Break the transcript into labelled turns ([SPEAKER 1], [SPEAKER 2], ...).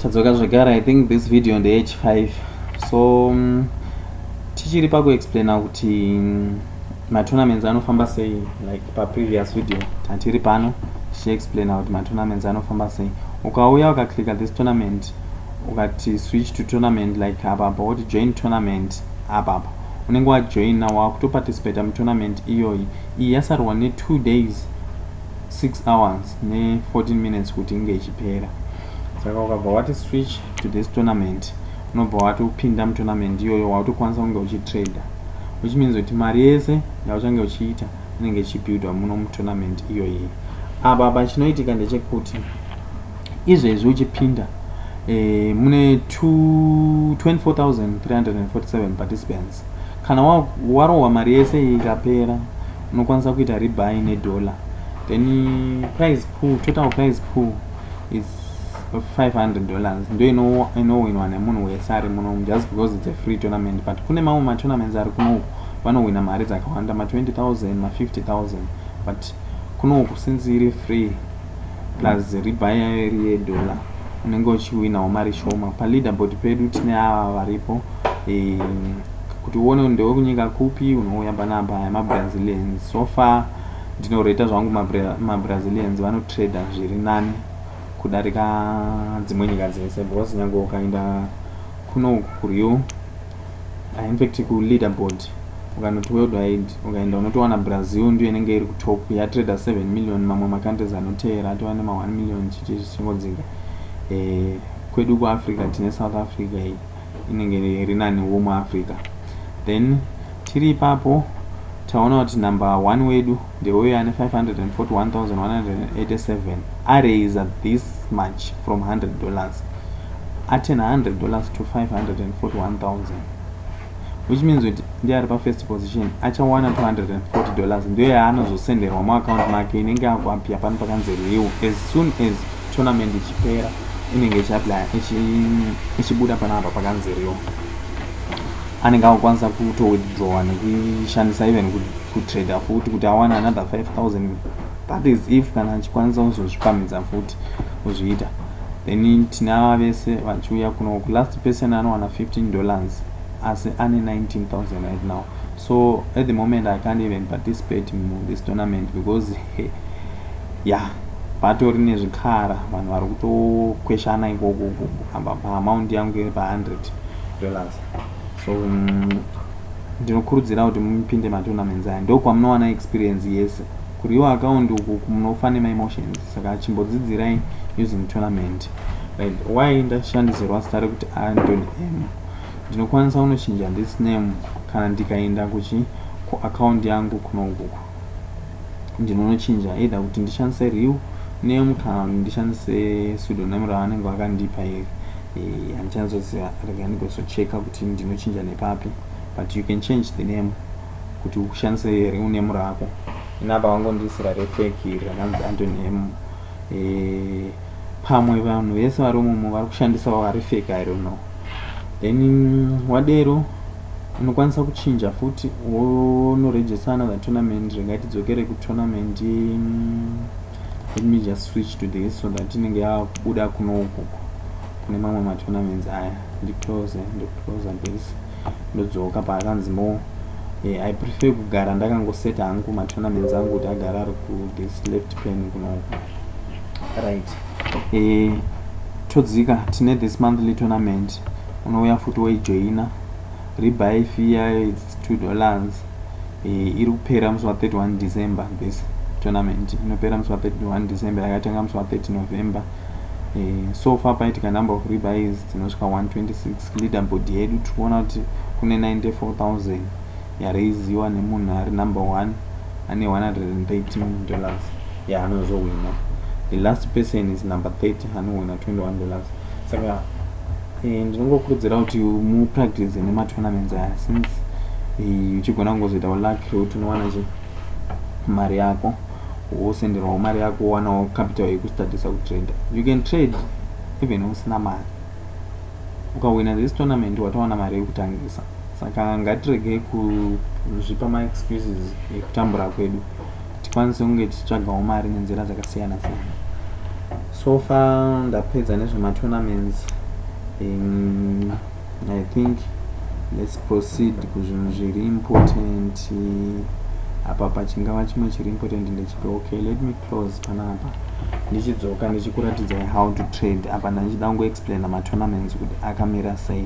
[SPEAKER 1] tadzoka zvekare i think this video ndeye ch 5 so um, tichiri pakuexplaina kuti mm, matournaments anofamba sei like paprevious video tatiri pano tichiexplaina kuti matournaments anofamba sei ukauya ukaclicka this tournament ukati switch to tournament like apapa woti join tournament apapa unenge wajoina wakutoparticipata mutournament iyoyi iyi yasarwa ne2 days 6 hours ne 14 minutes kuti inge ichipera saka ukabva wati switch to this tournament unobva wati upinda mutournament iyoyo wautokwanisa kunge uchitrader which means kuti mari yese yauchange uchiita inenge ichibuildwa muno mutournament iyoyi apa apa chinoitika ndechekuti izvezvi uchipinda eh, mune 24347 participants kana warohwa mari yese ikapera unokwanisa kuita rebuy nedollar then price pool total price pool is 500 dollars ndo inowinwa nemunhu wese ari muno just because its a free tournament but kune mamwe matournaments ari kunoku vanowina mari dzakawanda ma 20000 ma 50000 but kunoku since iri free plus riba yayo iri yedollar unenge uchiwinawo mari shoma paleaderboard pedu tine ava varipo e, kuti uone ndewe kunyika kupi unouya panapa aya mabrazilians so far ndinoreta zvangu mabrazilians vanotrader zviri nani kudarika dzimwe nyika dzese because nyange ukaenda kuno kurio ah, in fact kuleaderboard ukanoti worldwide ukaenda unotowana brazil ndiyo inenge iri kutop yatrader 7 million mamwe macountries anoteera atova nema 1 million chichi zvichingodzinga eh, kwedu kuafrica tine south africa iyi inenge iri nani wo muafrica then tiri ipapo taona kuti number one wedu ndeuyo ane 541,187 araiser this much from 100 dollars aturn 100 dollars to 541,000 which means kuti ndiye ari pafirst position achawana 240 dollars ndiyo yaanozosenderwa muaccount make inenge akuapia pano pakanzi real as soon as tournament ichipera inenge ichiaplya ichibuda panapa pakanzi real anenge akukwanisa kuto withdrawa nekuishandisa even kutrader futi kuti awane another 5000 that is if kana achikwanisa kuzozvipamidza futi kuzviita then tinava vese vachiuya kuno kulast person anowana 15 dollars asi ane 19000 right now so at the moment i can't even participate mu this tournament because he, yeah patori nezvikara vanhu vari kutokweshana ikoko apa paamount yangu iri pa 100 dollars so mm, ndinokurudzira kuti mupinde matournaments aya ndokwamunowana experience yese kuriwa account uku munofa nemaemotions saka chimbodzidzirai using tournament right why ndashandisirwa zita rekuti antony m ndinokwanisa kunochinja this name kana ndikaenda kuchi kuaccount yangu kunokuku ndinonochinja either kuti ndishandise real name kana kuti ndishandise pseudonym ravanenge vakandipa iri Eh, handichanzoziva rega ndigozocheka kuti ndinochinja nepapi but you can change the name kuti ushandise here unemu rako inapa vangondiisira refeki iri rakanzi antonemu eh, pamwe vanhu vese vari mumo vari kushandisawo arefeki i don't know then mm, wadero unokwanisa kuchinja futi wonoregista another tournament ringaitidzokere kutournament mm, let me just switch to this so that inenge yakubuda kuno ukoko kune mamwe matournaments aya ndiclose ndiclose this ndodzoka paakanzi mo eh, i prefer kugara ndakangoseta hangu matournaments angu kuti agara ari ku this left pen kuno uko right eh, todzika tine this monthly tournament unouya futi woijoina rebuy fee yayo its two dollars eh, iri kupera musi wa 31 december this tournament inopera musi wa 31 december yakatanga musi wa 30 november eh, so far paitika number of rebys dzinosvika 126 leader board yedu tiri kuona kuti kune 94000 yaraiziwa nemunhu ari number one ane 113 dollars yaanozohwina the last person is number 30 anohwina 21 dollars saka Eh, ndinongokurudzira kuti mupractice nematournaments aya since eh, uchigona kungozoitawo luck rekuti unowana che mari yako wosenderwawo mari yako wowanawo capital yekustadisa kutrader you can trade even usina mari ukawina this tournament watawana mari yekutangisa saka ngatirege kuzvipa maexcuses ekutambura kwedu tikwanise kunge tichitsvagawo mari nenzira dzakasiyana siyana so far ndapedza nezvematournaments um, i think let's proceed kuzvinhu zviri important apa pachingava chimwe chiri important ndechipi okay let me close panapa ndichidzoka ndichikuratidzai how to trade apa ndandichida kungoexplaina matournaments kuti akamira sei